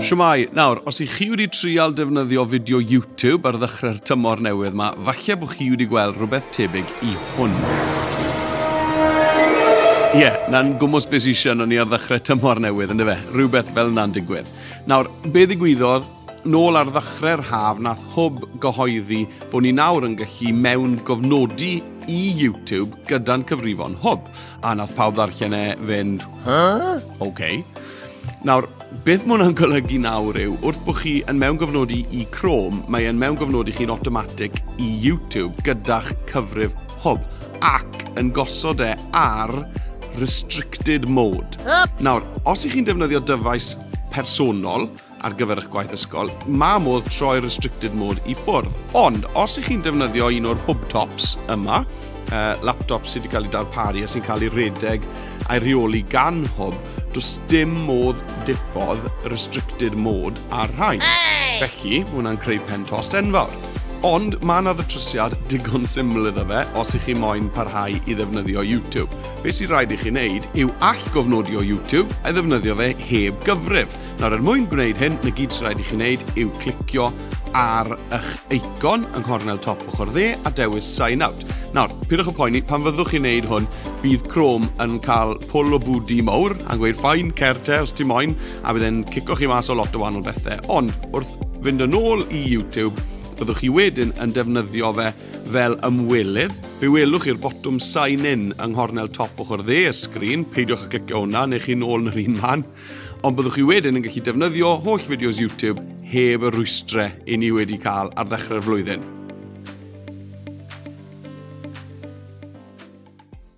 Shwmae! Nawr, os i chi wedi trial defnyddio fideo YouTube ar ddechre'r tymor newydd ma, falle bod chi wedi gweld rhywbeth tebyg i hwn. Ie, na'n gwmws be sy isio ni ar ddechrau tymor newydd, yn dyfe? Rhywbeth fel yna'n digwydd. Nawr, be ddigwyddodd, nôl ar ddechrau'r haf, nath hwb gyhoeddi bod ni nawr yn gallu mewn gofnodi i YouTube gyda'n cyfrifon hwb. A nath pawb ddarllen e fynd, Huh? OK. Nawr, beth mae hwnna'n golygu nawr yw, wrth bod chi yn mewn gofnodi i Chrome, mae e'n mewn gofnodi chi'n automatic i YouTube gyda'ch cyfrif hwb ac yn gosod e ar restricted mode. Nawr, os ych chi'n defnyddio dyfais personol, ar gyfer eich gwaith ysgol, mae modd troi restricted mode i ffwrdd. Ond, os ych chi'n defnyddio un o'r hub tops yma, uh, laptops sydd wedi cael eu darparu a sy'n cael eu rhedeg a'i rheoli gan hub, does dim modd diffodd restricted mode ar rhain. Felly, mae hwnna'n creu pen tost enfawr. Ond mae yna ddrysiad digon syml iddo fe os ych chi moyn parhau i ddefnyddio YouTube. Be sy'n rhaid i chi wneud yw all gofnodio YouTube a ddefnyddio fe heb gyfrif. Nawr, er mwyn gwneud hyn, na gyd sy'n rhaid i chi wneud yw clicio ar eich eicon yng nghornel top ochr dde a dewis Sign Out. Nawr, pidwch y poeni, pan fyddwch chi'n wneud hwn, bydd Chrome yn cael pwl o bwdi mawr a gweud ffain, cer te os ti moyn, a bydd e'n cico chi mas o lot o wahanol bethau. Ond wrth fynd yn ôl i YouTube, byddwch chi wedyn yn defnyddio fe fel ymwelydd. Fe welwch chi'r botwm Sign In yng nghornel top ochr dde y sgrin, peidiwch â clicio hwnna, neu chi'n ôl yn yr un man. Ond byddwch chi wedyn yn gallu defnyddio holl fideos YouTube heb y rwystrau i ni wedi cael ar ddechrau'r flwyddyn.